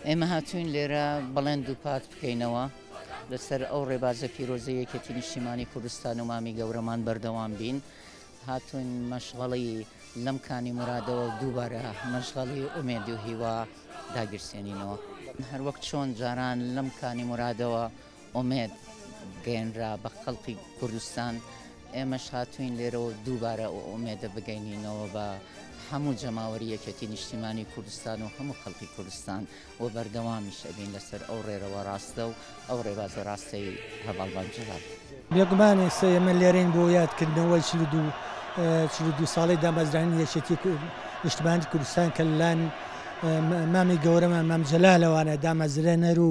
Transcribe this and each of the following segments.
ئێمە هاتووین لێرە بەڵێن دووپات بکەینەوە لەسەر ئەو ڕێبازە پیرۆزە یەکێتی نیشتیمانی کوردستان و مامی گەورەمان بەردەوام بین هاتوون مەشغەڵی لەم کانی مرادەوە دووبارە مەشغەڵی ئومێد و هیوا داگیرسێنینەوە هەروەک چۆن جاران لەم کانی مرادەوە ئومێد گەیەنرا بە خەڵقی کوردستان، ئێمەش هاتووین لێرەوە دووبارە ئەو ئومێدە بگەینینەوە بە هەموو جەماوەری یەکێتی نیشتیمانی کوردستان و هەموو خەڵقی کوردستان و بەردەوامیش ئەبین لەسەر ئەو ڕێرەوە ڕاستە و ئەو ڕێبازە ڕاستەی هەڤاڵ مام جەلال. بێگومانێ سە ئێمە لێرەین بۆ یادکردنەوەی چل و دوو چل و دوو ساڵەی دامەزرانی یەکێتی نیشتمانی کوردستان کە لەلایەن مامی گەورەمان مام جەلالەوانە دامەزرێنەر و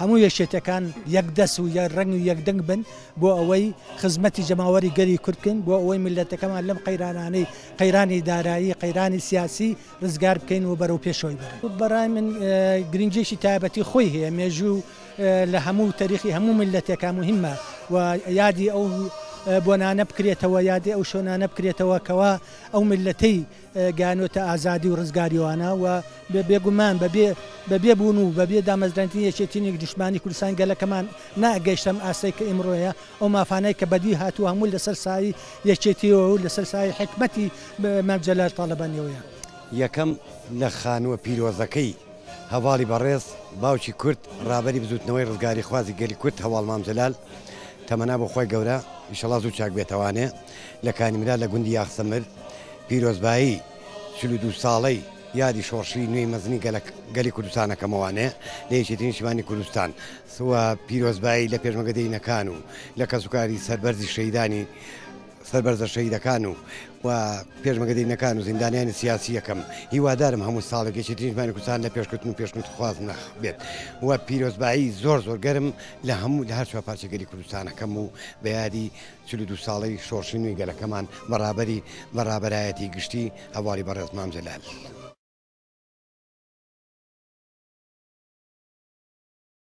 هەموو یەکێتەکان یەک دەست و یەک ڕەنگ و یەک دەنگ بن بۆ ئەوەی خزمەتی جەماوەری گەلی کورد بکەین بۆ ئەوەی میللەتەکەمان لەم قەیرانانەی قەیرانی دارایی قەیرانی سیاسی ڕزگار بکەین و بەرەو پێشەوەی بەرین بەڕای من گرنگیەکی تایبەتی خۆی هەیە مێژوو لە هەموو تەریخی هەموو میللەتێکا مهمە و یادی ئەو بۆنانە بکرێتەوە یادی ئەو شۆنانە بکرێتەوە کەوا ئەو میللەتەی گەیانۆتە ئازادی و ڕزگاریوانا و بێگومان بەبێ بەبێ بوون و بەبێ دامەزراندنی یەکێتی نیگشتمانی کوردستانی گەلەکەمان نا ئەگەیشتە ئەم ئاستەی کە ئیمڕۆیە ئەو مافانەی کە بەدی هاتووە هەموو لەسەر سایی یەکێتیەوە و لەسەر سایی حیکمەتی مام جەلال تاڵەبانیەوەیە. یەکەم لە خانووە پیرۆزەکەی هەڤاڵی بەڕێز باوکی کورد ڕابەری بزووتنەوەی ڕزگاریخوازی گەلی کورد هەڤاڵ مام جەلال تەمەنا بۆ خوای گەورە ئیشەڵا زوو چاک بێتەوانێ لە کانی مرا لە گوندی یاخسەمر پیرۆزبایی چل و دوو ساڵەی یادی شۆڕشی نوێی مەزنی گەلی کوردستان ئەکەمەوە لە یەکێتی نیشتمانی کوردستان و پیرۆزبایی لە پێشمەرگە دێینەکان و لە کەسوکاری سەربەرزی شەیدانی سەربەرزە شەیدەکان و و پێشمەگە دینەکان و زیندانیانی سیاسی یەکەم هیوادارم هەموو ساڵێک یەکێتیژمانی کوردستان لە پێشکردن و پێشنوتخواز ناخ بێت و پیرۆزبایی زۆر زۆر گەرم لە هەموو لە هەر چوار پارچەگەری کوردستانەکەم و بەیادی چل و دوو ساڵەی شۆڕشی نوێی گەلەکەمان بە ڕابەری بە ڕابەرایەتی گشتی هەڤاڵی بەڕێز مام جەلال.